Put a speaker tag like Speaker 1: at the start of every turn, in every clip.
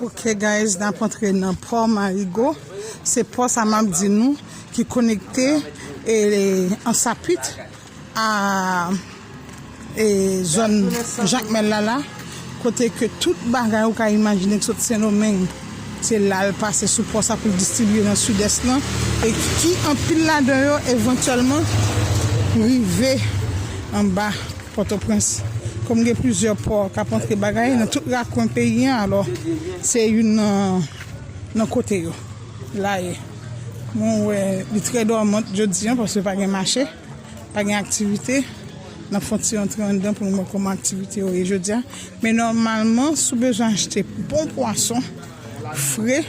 Speaker 1: Ok guys nap antre nan pò marigo se pò sa map di nou ki konekte ansapit a e zòn jakmèl la la kote ke tout bagay ou ka imajine ki sot sendomeng se la al pase sou pò sa poul distribye nan sidès lan e ki anpil ladan yo evantyèlman rive anba Pòtoprens. Kòm gen plizyè pò k ap antre bagay nan tout rakwen peyi an alò se youn nan kote yo la ye. Mwen wè li trè dòmant jodi an paske pa gen mache, pa gen aktivite. N ap fè yon ti antre anndan pou nou wè kòman aktivite yo ye jodi a. Men nòmalman si w bezwen achte bon pwason. Fre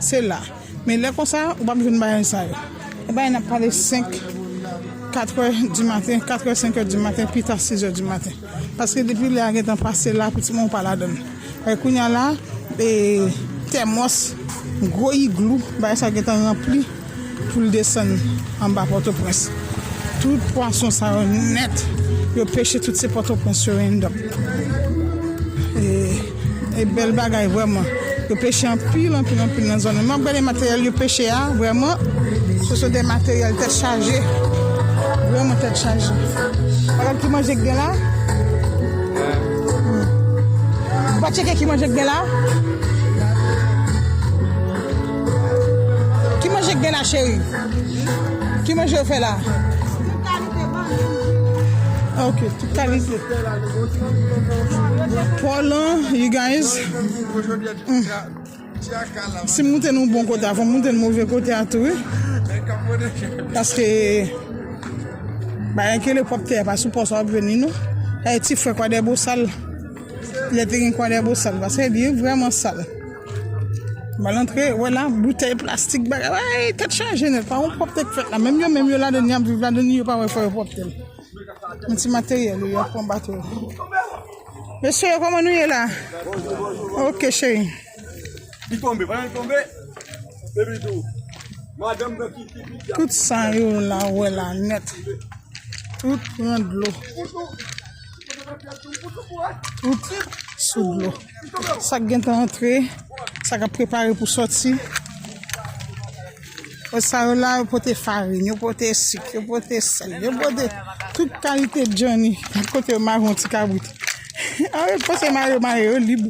Speaker 1: se la men lè konsa ou pap jwenn bagay sa yo e bagay nap pale 5 katrè di maten katrè senkè di maten pita sizè di maten paske depi lè a gentan pase la pou timoun pa ladann e kounya la e tèmòs gwo iglou bagay sa gentan ranpli. Pou l desann anba Pòtoprens. Tout pwason sa yo nèt, yo peche tout se Pòtoprens yo end up. E bèl bagay vrèman. Yo peche anpil, anpil, anpil nan zòn nan. M ap gade materyèl yo peche a, vrèman, se sou de materyèl tèt chaje. Vrèman tèt chaje. Ou gade ki manje k gen la? Ou pa tcheke ki manje k gen la? Ki manje k gen la cheri? Ki manje yo fè la? Ok, tout kalite. Polan, you guys. Si m moute nou bon kote a, fò m moute nou move kote a tou. Paske, bayan kele pop te a pa sou pos wap veni nou. E ti fwe kwa de bo sal. Le te gen kwa de bo sal. Paske, biye vreman sal. Mal antre, wè la, boutèy plastik bagay, wèy, tèt chaje nèt, pa won pwòpte k fèt la, menm yo menm yo ladan ni ap viv ladan ni yo pa wè fò yo pwòpte l. Yon ti materyèl yo ap pran bato yo. Mesye yo kòman nou ye la? Ok cheri. Li tonbe,
Speaker 2: pandan li tonbe, epi tou, madanm nan ki ki ki. Tout
Speaker 1: sa yo la wè la nèt. Tout pran dlo. Tout sou dlo. Sak gentan antre, sak ap prepare pou soti. Bon sa yo la yo pote farin, yo pote sik, yo pote sèl, yo pote tout kalite djanni. Bon kote yo mare yon ti kabrit. Anwe pase mare mare yo lib.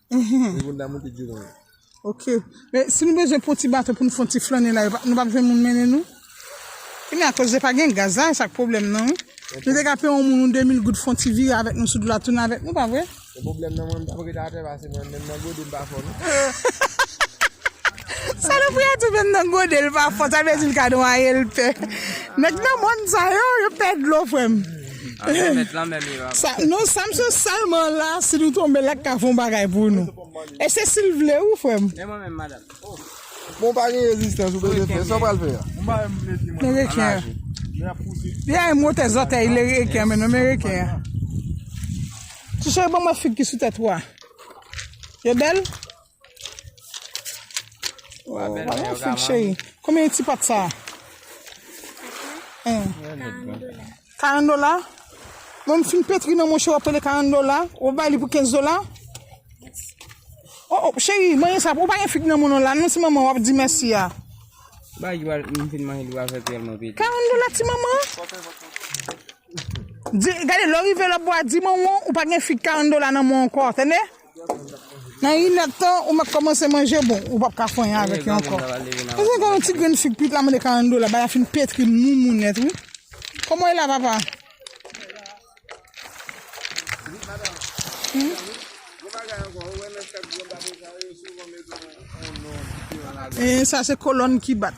Speaker 2: Mwen konn damou tout jounen yo. Ok.
Speaker 1: Men, si nou bezwen pran ti bato pou nou fè yon ti flannen la, yo pa- nou pa p jwenn moun mennen nou? Ki men akoz de pa gen gaz la, e sa k pwoblèm nan wi. Nou te ka peye yon moun yon 2000 goud fè yon ti vire avèk nou sou dlo a tounen avèk nou, pa vre? Se pwoblèm nan mwen, m t
Speaker 2: ap ret atè pase mwen menm nan gode m pa fò non.
Speaker 1: Salopri a tou menm nan gode l pa fò, sa vle di l ka nwaye l pè. Nèg nan mòn sa yo, yo pè dlo frè m. Amen met lan men mirak. Sa non Samson selman la si nou tonbe la ka fon bagay pou nou. E se sil vle wi frem. E mwen menm
Speaker 3: madam oh. Bon pa
Speaker 2: gen rezistans ou bezwen fè, sa w pral fè a? Men reken
Speaker 1: an. Li a yon motè zòtèy li reken an men non men reken an. Ti cheri ban mwen fig ki sou tèt ou a. Yo bèl? Wa bèl mwen yo gaman. Cheri, konbyen ti pat sa? Hein? 40 dola. 40 dola? Mwen m fin petri nan mwen cheri wap pale 40 dola? Ou bay li pou 15 dola? Oh oh cheri, manje sa, ou pa gen fig nan mwen non la non ti manman wap di mèsi a. Ba li
Speaker 3: wal, m fin manje li wal fè pyel mwen pete. 40 dola ti manman?
Speaker 1: Di, gade lè w rive lè w ap bwa di manman w ou pa gen fig 40 dola nan mwen w ankò, tande? Nan inèd tan ou mèt kòmanse manje bon ou pap ka fanyen avèk yo ankò. Mezanmi gade yon ti grenn fig pit la mande 40 dola bagay la fin petri moumou nèt wi. Kòman e la papa? Sa se kolòn ki bat.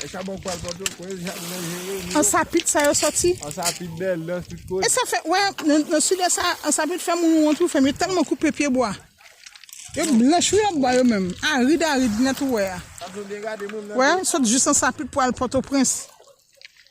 Speaker 2: E sa bon pal pote kwe jak nan jere yo. Ansapit sa
Speaker 1: yo soti. Ansapit bel dans
Speaker 2: tout kote. E sa fe we
Speaker 1: nan sud est sa ansapit fe moun wont wi frem yo telman koupe pye bwa. Yo blanch wi lòt bò yo menm. Arid arid net ou we a. Sa vle m byen gade moun nan. We sot jis ansapit pou al potoprens.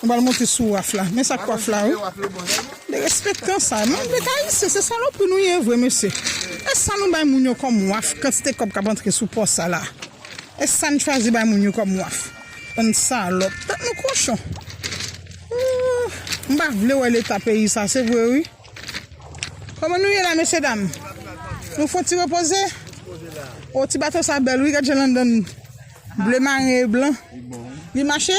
Speaker 1: Nou pral monte sou waf la. Men sak waf la wi. Derespektan sa. Moun dwe ka ayisyen se salopri nou ye vre mesye. Esa nou bay moun yo kom waf kantite kob kap antre sou pò sa la. Esa nou chwazi bay moun yo kom waf. Bann salop. Tèt nou kochon. Ooh. M pa vle wè leta peyi sa se vre wi. Koman nou ye la mesye dam. Nou fon ti repoze. Oh ti bato sa bel wi gad jan landann ble maren e blan. Li mache?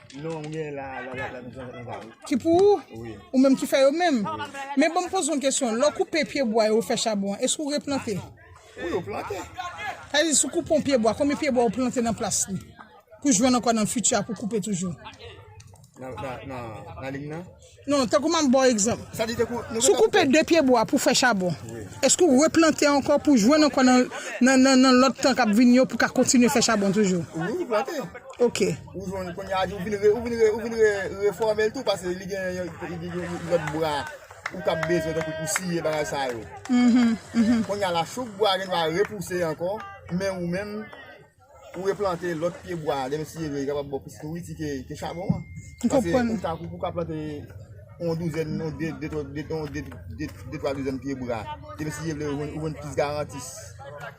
Speaker 1: Non m gen
Speaker 2: la la la m gen la. Ki
Speaker 1: pou ou? Wi. Ou menm ki fè
Speaker 2: yo menm?
Speaker 1: Wi. Men banm poze yon kesyon, lè w koupe pye bwa yo ou fè chabon an, èske ou replante? Wi ou plante.
Speaker 2: Sa vle di si w
Speaker 1: koupe yon pye bwa, konbyen pye bwa ou plante nan plas li? Pou jwenn ankò nan fiti a pou koupe toujou? Nan nan
Speaker 2: nan lim nan? Non, tankou map
Speaker 1: baw egzanp. Si w
Speaker 2: koupe 2 pye
Speaker 1: bwa pou fè chabon, eske w replante ankò pou jwenn ankò nan lòt tan kap vini yo pou ka kontinye fè chabon toujou? Wi, ou plante.
Speaker 2: Ok. Ou
Speaker 1: jwenn kounye a
Speaker 2: ou vin refòme l tou paske li gen yon lòt bwa ou tap bezwen tankou pou siye bagay sa yo. Kounye a la chouk bwa gen dwa repouse ankò men ou menm Pou replante lòt pye bwa a, lè nou siye li, li kapab ba w plis nouriti ke chabon an. M konprann. Paske pou w ka plante yon douzèn, yon de, de twa, de twa, de twa douzèn pye bwa, lè nou siye li, ou jwenn plis garanti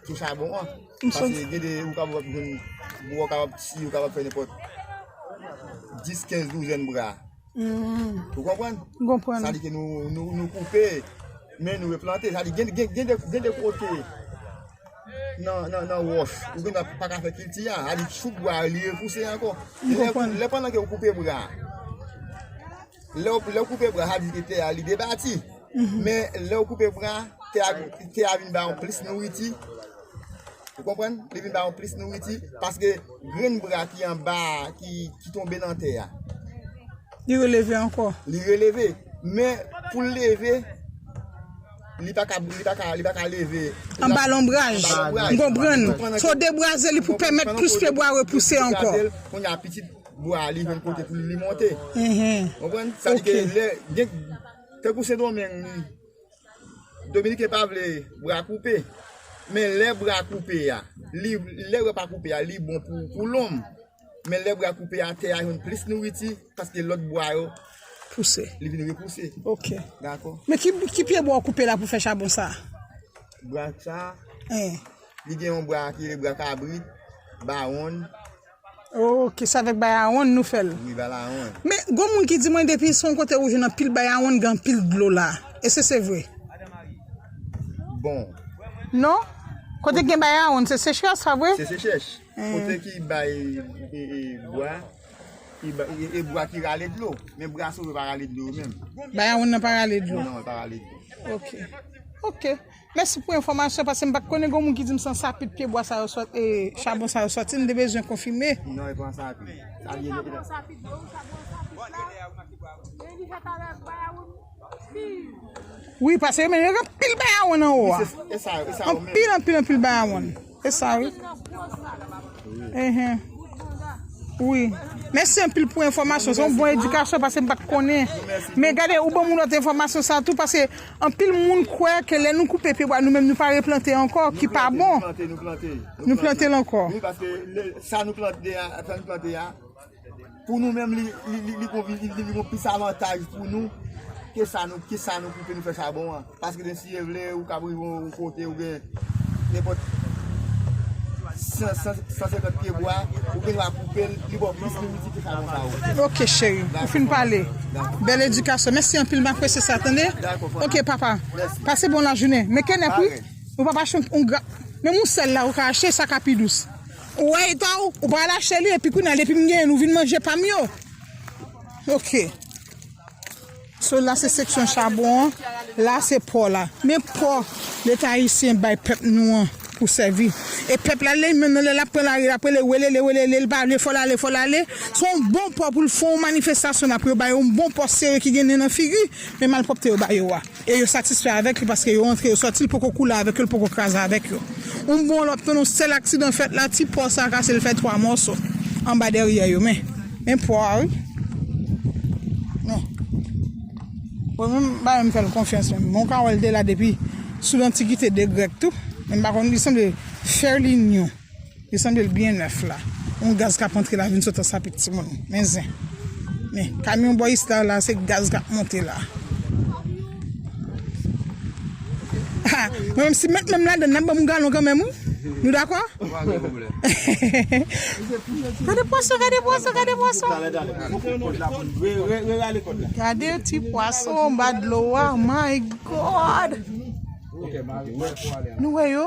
Speaker 2: ke chabon an. M sot. Paske gen de, ou kapab ap jwenn, bwa w kapab siye, ou kapab fè nenpòt dis, kenz douzèn bwa. Ou konprann? M konprann. Sa di ke nou koupe, men nou replante. Sa di gen de, gen de kote. nan wòch, ou gen dwa pa ka fè kilti a, a li choup bwa a, li repouse ankò. Lè pandan ke ou koupe bwa, lè ou koupe bwa, sa vle di ke tè a li debati, men lè ou koupe bwa, tè a vin ba ou plis nouriti, ou konprann? Li vin ba ou plis nouriti, paske grenn bwa ki anba a, ki tonbe nan tè a. Li
Speaker 1: releve ankò. Li releve,
Speaker 2: men pou l leve. Li pa ka li pa ka li pa ka leve. Anba
Speaker 1: lonbraj. Anba lonbraj. M konprann. M konprann. Fò debwaze li pou pèmèt plis pyebwa repouse ankò. Pou debwaze l, kounye a pitit
Speaker 2: bwa a li jwenn kote pou li monte. Ou konprann? Sa vle di ke lè gen tankou Sendomeng li Dominiken pa vle bra koupe. Men lè bra koupe a, li lè bra pa koupe a li bon pou lom. men lè bwa koupe a tè a jwenn plis nouriti paske lòt bwa yo pouse
Speaker 1: li vin repouse
Speaker 2: ok dakò
Speaker 1: men
Speaker 2: ki pye bwa
Speaker 1: ou koupe la pou fè chabon sa bwa
Speaker 2: sa li gen yon bwa ki rele bwa kabrit bawon ok
Speaker 1: se avèk bayawon nou fèl wi bayawon men
Speaker 2: gon moun ki di mwen
Speaker 1: depi son kote ou jwenn anpil bayawon gen anpil dlo la èske se vre
Speaker 2: bon
Speaker 1: non kote gen bayawon se sechrès sa vre se sechrès. Kote
Speaker 2: ki bay bwa, e bwa ki rale dlo. Men bwa sou yo pa rale dlo yo menm. Bwa yon nan pa rale
Speaker 1: dlo. Non, pa rale dlo.
Speaker 2: Ok. Ok.
Speaker 1: Mèsi pou enfòmasyon, pase m pat konnen gen yon moun ki di m se an sapit pye bwa sa yo soti, chabon sa yo soti, m te bezwen konfime.
Speaker 2: Non, e pa
Speaker 1: an sapit. Sa vye de. Wi, pase yo men yo gen anpil bwa yon nan ou a. Anpil,
Speaker 2: anpil, anpil bwa
Speaker 1: yon. Se sa wi. Wi. Mèsi anpil pou enfòmasyon. Se yon bon edikasyon pase m pat konnen. Men gade ou ban moun lòt enfòmasyon sa tou pase anpil moun kwè ke lè nou koupe pyebwa nou menm nou pa replante ankò ki pa bon. Nou plante, nou plante. Nou plante l ankò. Wi paske
Speaker 2: sa nou plante a, sa nou plante a. Pou nou menm li gon plis avantaj pou nou ke sa nou koupe nou fè chabon an. Paske gen si e vle ou kab rive yon kote ou gen nenpòt 150 pye bwa ou gen dwa koupe l li ba w plis minit ke chabon sa ou. Ok cheri ou fin
Speaker 1: pale. Bèl edikasyon. Mèsi anpil m apresye sa tande. Ok papa. Pase bon lajounen. Men kenèp wi. Ou pa pa achte yon granm. Menm yon sèl la ou ka achte sa ka pi dous. Ou wè etan ou, ou pral achte li epi kounya depi m genyen nou vin manje pa m yo. Ok. So la se seksyon chabon an, la se pò la. Men pò leta ayisyen bay pèp nou an pou sèvi. E pèp la lè menm nan lè l ap pran lari l ap rele welele welele l pa vle fò l ale fò l ale. Se yon bon pò pou l fè yon manifestasyon la pou yo ba yo yon bon pò sere ki gen nen nan figi men malpwòpte yo ba yo a. E yo satisfè avèk li paske yo antre yo sòti l poko koule avèk yo l poko kraze avèk yo. Yon bon lòt nan yon sèl aksidan fèt la ti pò sa kase l fè 3 mòso anba dèryè yo men men pò a wi men mwen menm m pa menm fè l konfyans menm men w ka wè l te la depi sou lantikite de grèk tou men m pa konn li sanble fè l inyon. Li sanble l byen nèf la. Yon gaz kap antre la vin sot an sapit timoun. Men zen. Men kamyon bò isla la se gaz kap monte la. Ha mwen menm si met menm ladann nap banm yon galon kanmenm wi. Nou dakò? Pa gen pwoblèm. Gade pwason gade pwason gade pwason. Talè talè pou fè kòd la pou nou. Re re rale kòd la. Gade ti pwason anba dlo a my God. Nou wè yo?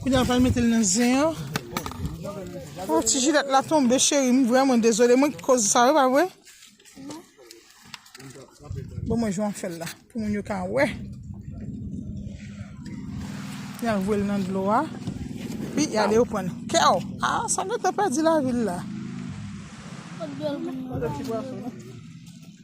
Speaker 1: Kounya ou pral metel nan zen an. Oh ti jilet la tonbe cheri m vreman dezole mwen ki koz sa wi pa vre. Bon mwen jwen fèl la pou moun yo ka wè. Ya vwel nan dlo a. Pi ya le yo pran kèw. A ah, sa mwen te pedi la vil la.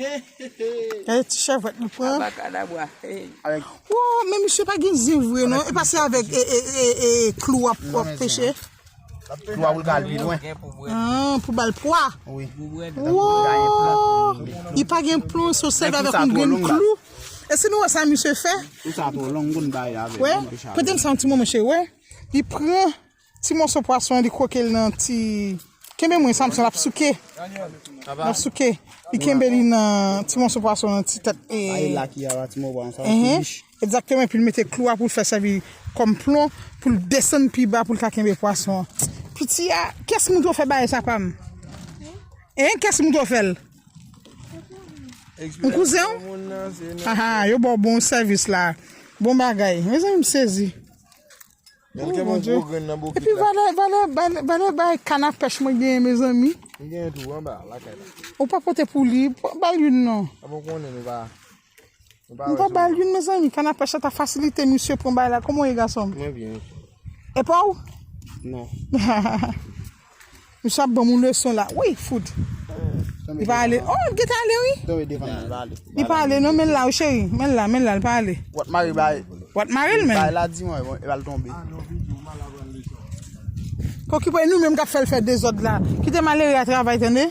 Speaker 1: Hey ti chèvwèt nou pran. Abakadabwa. Hey. Oh, men misye pa gen zen vre non. E pa se avèk e, e, e, e, e klou wap wap peche.
Speaker 4: Klou a ou ka al pi lwen. Ah, pou bal
Speaker 1: pwa. Oui.
Speaker 4: Wow!
Speaker 1: Li pa gen plon, so sèl avèk yon grenn klou. E si nou wè sa misye fè? Ou sa to long gon
Speaker 4: bay avèk. Wè? Potem sa yon ti
Speaker 1: moman cheri, wè? Li pran Ti moso pwason li kroke l nan ti kenbe mwen Samson lap souke lap souke li kenbe li nan ti moso pwason nan ti tèt e Sa e lak y a la ti
Speaker 4: moso pwason sa ti bich. Egzakteman epi l
Speaker 1: mete klou a pou l fè sèvi kòm plon pou l desann pi ba pou l ka kenbe pwason an piti a kiyès moun tro fè bagay sa pa m hein kiyès moun tro fè l yon kouzen w aha yo ba w bon sèvis la bon bagay mezanmi m sezi. Mwen gen yon gwo grenn nan bokit la. Epi valè, valè, valè bay kann a pèch mwen genyen mezanmi. Mwen genyen tou anba lakay la. Ou pa pote pou li, ba l youn non. A mwen konnen nou pa. Nou pa ba l youn mezanmi, kann a pèch la ta fasilite misye pran bagay la. Kòman ou ye gason m? Mwen byen.
Speaker 2: E pa ou?
Speaker 1: Non. Misye ap banm yon leson la wi fout. Li pa ale. Oh, li gentan ale wi. Tonbe devan li. Li pa ale non, men l la wi cheri. Men l la, men l la, li pa ale. Ou ap mare bay.
Speaker 4: Ou ap mare l men. Bay
Speaker 1: la di mwen, e pral
Speaker 4: tonbe.
Speaker 1: Pokipo e nou menm k ap fè l fè dezòd la. Kite malere a travay tande.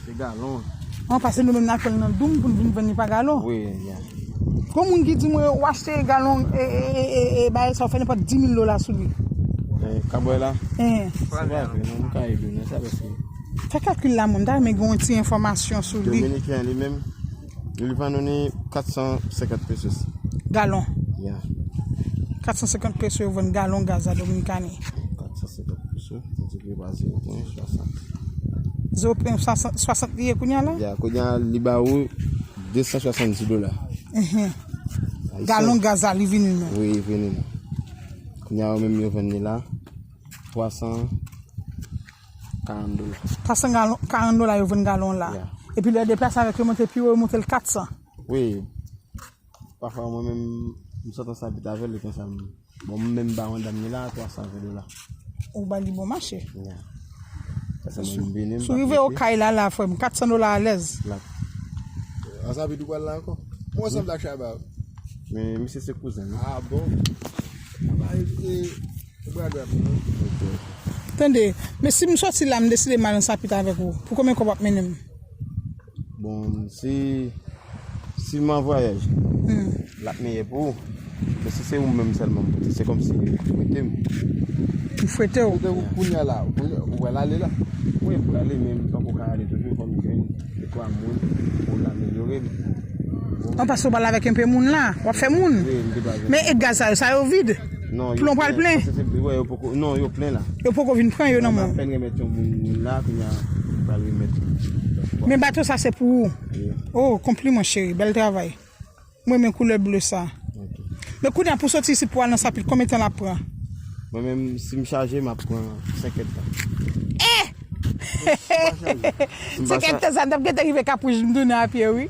Speaker 2: Se galon. An pase nou menm na
Speaker 1: fèl nan doum poun vin vann li pa galon. Wi ya.
Speaker 2: Gon moun ki
Speaker 1: di mwen ou achte galon e baye sa ou fè nenpòt 10000 dola sou li. E kabwè la?
Speaker 2: Eeh. Se pa vre non nou ka ede nou sa vè se. Fè kalkil la mwen ta
Speaker 1: renmen gen yon ti enfòmasyon sou li. Dominiken li menm.
Speaker 2: Li vann nou ni 450 pesos. Galon? Yeah.
Speaker 1: 450 pesos yo vann galon gaz la Dominikani. 450
Speaker 2: pesos, nou di li
Speaker 1: ba 0.60. 0.60 li ye kounya la? Yeah, kounya li ba ou
Speaker 2: 270 dola.
Speaker 1: Galon gaz la li vini nou? Oui, li vini nou.
Speaker 2: Kounya yo menm yo vann li la 300. 40
Speaker 1: dola. 400 galon, 40 dola yo vann galon la. Yeah. Epi lè deplase
Speaker 2: avèk yo
Speaker 1: monte pi wo, yo monte l 400. Wi,
Speaker 2: pafwa mwen menm, m sot ansanm pita avèl, li konsa m. Bon, m menm ba yon dam ni la 320 dola. Ou
Speaker 1: ba li bon mache. Yeah.
Speaker 2: Pase mwen m vini, m Sou pa rive prete. okay la la
Speaker 1: frèm, 400 dola alèz. Lap.
Speaker 2: Ansanm pita ou pral la ankò? Ou ansanm la Shabba? Men, misye se kouzen m. Ah bon? Aba e, e.
Speaker 1: Tande, men si m soti la m deside m al nan sapit avèk ou, pou konbyen kòb w ap mennen m?
Speaker 2: Bon, si si m an vwayaj, l ap miyè pou ou. Men si se ou menm sèlman m pote, se kòmsi ou fwete m.
Speaker 1: M fwete w? Kote ou kounya la? Ou
Speaker 2: pral ale la? Wi, m pral ale, men m poko ka ale toujou fò m jwenn dekwa moun pou l amelyore m.
Speaker 1: An, paske ou pral avèk enpe moun la? W ap fè moun? Wi, m gen dwa jwenn moun. Men e gaz sa yo, sa yo vid? Plon pral plen? Non,
Speaker 2: yo plen la. Yo poko vin pran yo nan
Speaker 1: men w? Yo apèn remèt yon moun la,
Speaker 2: kounya yo pral remèt yon. Men bato
Speaker 1: sa se pou ou? Wi. O, konpliman cheri, bèl travay. M renmen koulè ble sa. Ok. Men kounya pou soti isit pou al nan Sapit, konbyen tan l ap pran? Mwen menm,
Speaker 2: si m chaje, m ap pran 5 èdtan. E!
Speaker 1: Si m pa chaje. 5 èdtan sa, n t ap gentan rive Kapwouj m tounen apye wi.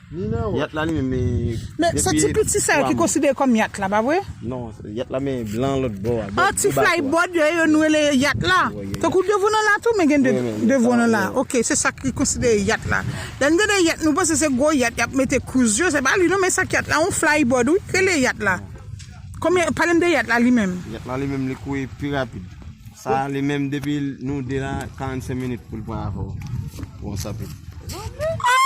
Speaker 2: Yat la li menm li Men se ti
Speaker 1: piti sa yo ki konsidere kòm yat la pa vre? Non yat la men
Speaker 2: blan lòt bò a Ah ti fly bod
Speaker 1: yo yo nou rele yat la Tankou devan nou la tou men gen devan nou la ok se sa ki konsidere yat la Lè nou tande yat nou panse se gwo yat y ap mete cruise yo se pa li non men sa k yat la yon fly bod wi k rele yat la Konbyen pale m de yat la li menm Yat la li menm li kouri
Speaker 2: pi rapid Sa a li menm depi nou 2 la 45 minit pou l pran avè w pou yon sòti Ahh!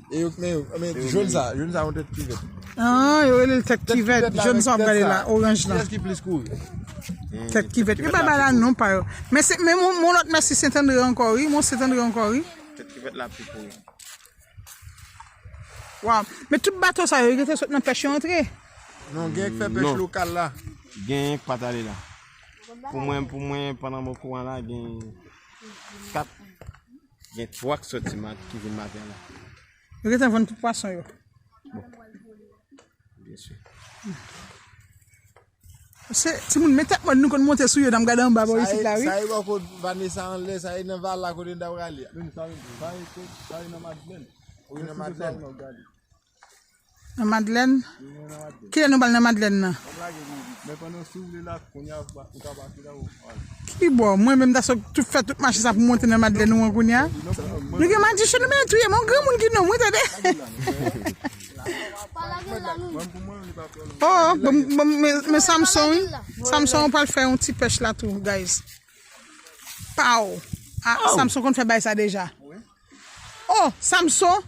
Speaker 2: E yo kmen yo. E men joun sa. Joun sa yon tèt kivèt. An
Speaker 1: yo relel
Speaker 2: tèt
Speaker 1: kivèt.
Speaker 2: Tèt
Speaker 1: kivèt la. Joun sa
Speaker 2: wap
Speaker 1: gade la. Oranj
Speaker 2: la. Kiyès
Speaker 1: ki plis
Speaker 2: kouri.
Speaker 1: Tèt kivèt. Yo pa bay la non pa yo. Men se men yon lòt mèsi Sentandre ankò wi. Mont Sentandre ankò wi. Tèt kivèt la pi
Speaker 4: kouri.
Speaker 1: Waw. Men tout bato sa yo. Yo te sot nan pèch yo antre. Non gen ki
Speaker 2: fè pèch lokal la. Gen yon ki pat ale
Speaker 3: la. Pou mwen pou mwen pandan mwen kouran la gen 4 Gen truck soti mat ki vin maten la. Yo gen tan vann
Speaker 1: tout pwason yo.
Speaker 3: Bien
Speaker 1: sûr. Se ti moun men tèt mòn nou konn monte sou yo nan gade anba bò isit la wi. Sa e bò kot Vanessa
Speaker 2: anlè, sa e nan vala kote n ta prale a. Sa e nan Madlèn. Ou nan Madlèn.
Speaker 1: Nan madlèn? Ki lè nou bal nan madlèn nan? Ki bo? Mwen menm ta sot tout fè tout mache sa pou monte nan madlèn ou an kounya? Nou gen madichon nou menm touyem, on granmoun ki nonm wi tande. Oh, men Samson wi, Samson ou pral fè yon ti pèch la tou guys. Pow! Ah, Samson konn fè bay sa deja. Oh, Samson!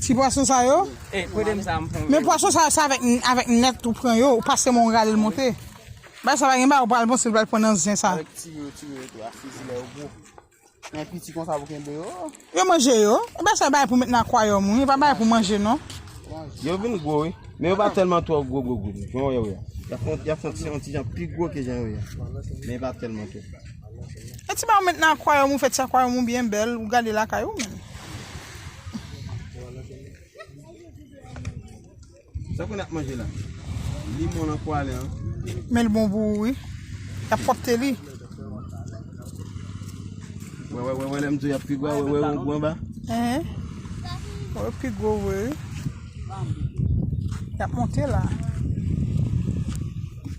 Speaker 1: Ti pwason sa yo? E, pwede m sa m
Speaker 3: pran. Men pwason sa yo se avèk
Speaker 1: avèk nèt ou pran yo, ou pase men ou rale l monte. Bay sa pa gen bay ou pral bon si l pral pran nan zen sa. Avèk ti yo ti yo tou
Speaker 4: a fizilè yo gwo. Nan piti konsa pou kenbe yo. Yo manje yo.
Speaker 1: Ou bè sa bay pou met nan akwayòm wi. Pa bay pou manje non. Yo vin
Speaker 3: gwo wi. Men yo pa telman twò gwo gwo gwo. Jan wè yo ya. Ya fon ti yon ti jan pi gwo ke jan yo ya. Men yo pa telman twò. E ti
Speaker 1: bay ou met nan akwayòm ou fè ti akwayòm ou byen bèl. Ou gade lakay ou menm.
Speaker 3: Sa konn ap manje la. Limon lan pwale an. Men li bon
Speaker 1: pou ou wi. Yap fòkte li.
Speaker 3: Wè wè wè wè lèm di w yap pi gwa wè wè wè ou gou anba. Eeh.
Speaker 1: Wè ou pi gwo vre wi. Yap monte la.